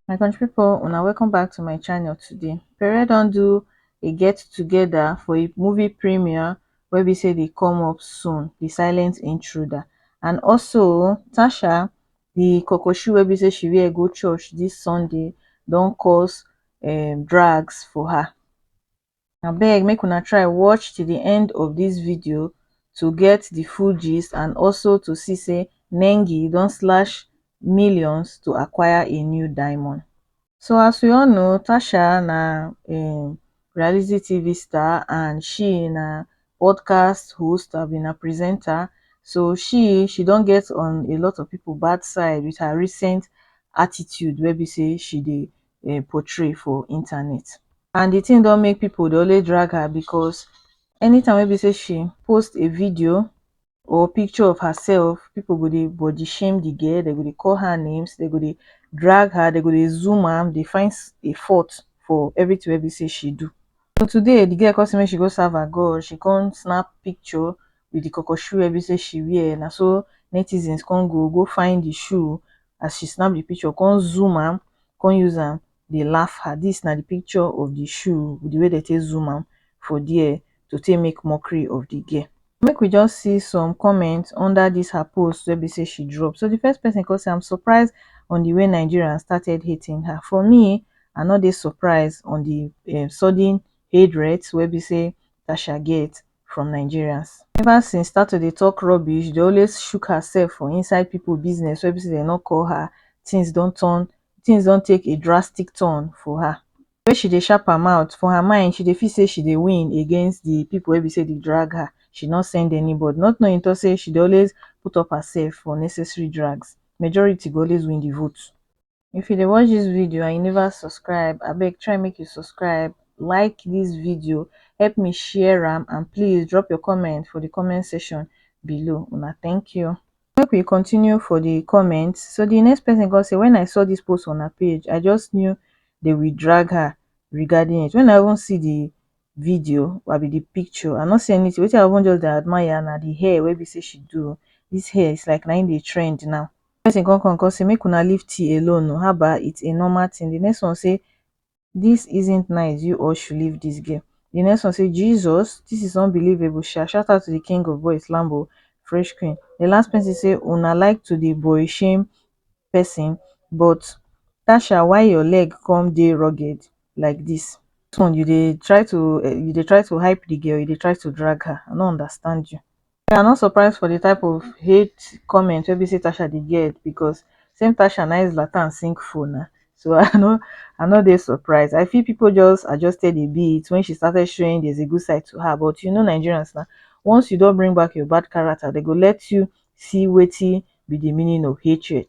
my country people, una welcome back to my channel today pere don do a get together for a movie premiere where we say they come up soon the silent intruder and also tasha the kokoshi where we say she wear go church this sunday don't cause um, drags for her abeg make una try watch till the end of dis video to get the full gist and also to see say nengi don slash millions to acquire a new diamond so as we all know tacha na um reality tv star and she na podcast host abi na presenter so she she don get on a lot of people bad side with her recent attitude wey be say she dey um portray for internet and the thing don make people dey always drag her because anytime wey be say she post a video or picture of herself people go dey body shame the girl they go dey call her names they go dey drag her they go dey zoom am dey find s- a fault for everything wey be say she do so today the girl come say make she go serve her God she come snap picture with the koko shoe wey be sey she wear, na so netizens con go go find the shoe as she snap the picture con zoom am con use am dey laugh her, this na the picture of the shoe with the way dem take zoom am for there to take make mockery of the girl. Make we just see some comment under this her post wey be sey she drop, so the first person con say am surprised on the way Nigerians started hating her, for me I no dey surprised on the sudden hate rate wey be sey tasha get from nigerians ever since start to dey talk rubbish dey always shook herself for inside people business wey be say dem no call her things don turn things don take a drastic turn for her wey she dey sharp her mouth for her mind she dey feel say she dey win against the people wey be say dey drag her she no send anybody not knowing to say she dey always put up herself for unnecessary drags majority go always win the vote if you dey watch dis video and you never subscribe abeg try make you subscribe like dis video help me share am and please drop your comment for the comment section below una thank you make we continue for the comment so the next person come say when i saw this post on her page i just knew they will drag her regarding it when i even see the video i be the picture i no see anything wetin i even just dey admire na the hair wey be say she do this hair is like na im dey trend now person come come come say make una leave tea alone oo haba it's a normal thing the next one say this isn't nice you all should leave this girl the next one say Jesus this is unbelievable sha shout out to the king of boys Lambo fresh queen the last person say una like to dey boy shame person but Tasha why your leg come dey rugged like this this one you dey try to you dey try to hype the girl you dey try to drag her I no understand you me i no surprise for the type of hate comment wey be say tasha dey get because same tasha na him zlatan sink for na so i no i no dey surprise i feel people just adjusted a bit when she started showing there's a good side to her but you know nigerians na once you don bring back your bad character they go let you see wetin be the meaning of hatred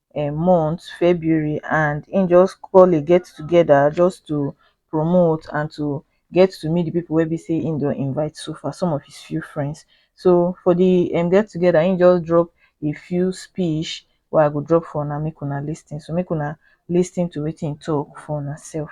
um month february and him just call a get together just to promote and to get to meet the people wey be say him don invite so far some of his few friends so for the um get together him just drop a few speech wey i go drop for una make una lis ten so make una lis ten to wetin him talk for una self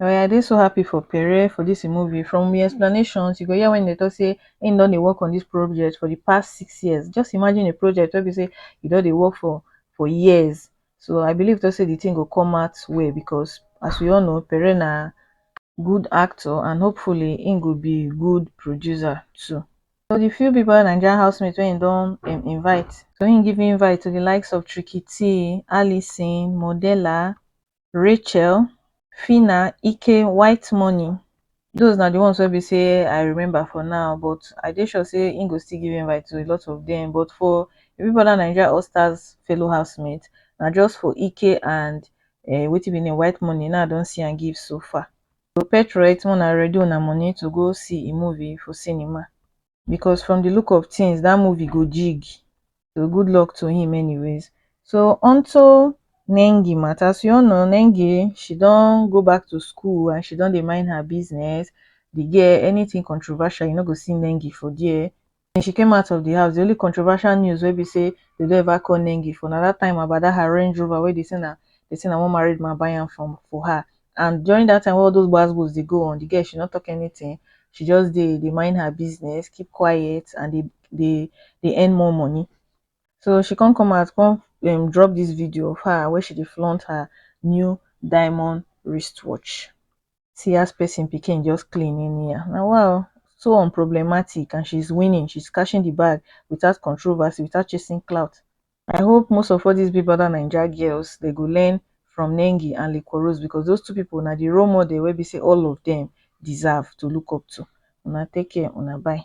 Omo I dey so happy for Pere for this im movie from im explanations you go hear when e dey talk say im don dey work on this project for the past six years just imagine a project wey be say e don dey work for for years so I believe talk say the thing go come out well because as we all know Pere na good actor and hopefully im go be good producer too. For the few people Nigerian housemates wey im don um invite so im give invite to the likes of Tricky Tee, Alison, Modella, Rachel, Phyna, Ike, White Money. Those na the ones wey be say I remember for now, but I dey sure say im go still give invite to a lot of them. But for Big Brother Nigeria All Stars fellow housemates, na just for Ike and uh, wetin be name White Money now I don see am give so far. So Petrolite, una ready una money to go see a movie for cinema. because from the look of things dat movie go jig so good luck to him anyways so onto nengi matter so you all know nengi she don go back to school and she don dey mind her business the girl anything controversial you no go see nengi for there when she came out of the house the only controversial news wey be say they don ever call nengi for na that time about that her range rover wey they say na they say na one married man buy am from for her and during that time wey all those gbas gbos dey go on the girl she no talk anything she just dey dey mind her business keep quiet and dey dey dey earn more money so she come come out come um drop this video of her wey she dey flaunt her new diamond wristwatch see as person pikin just clean anyhow na wa o so unproblematic and she's winning she's cashing the bag without controversy without chasing clout I hope most of all these big brother naija girls they go learn from Nengi and Liquorose because those two people na the role model wey be say all of them deserve to look up to. Una take care, una bye.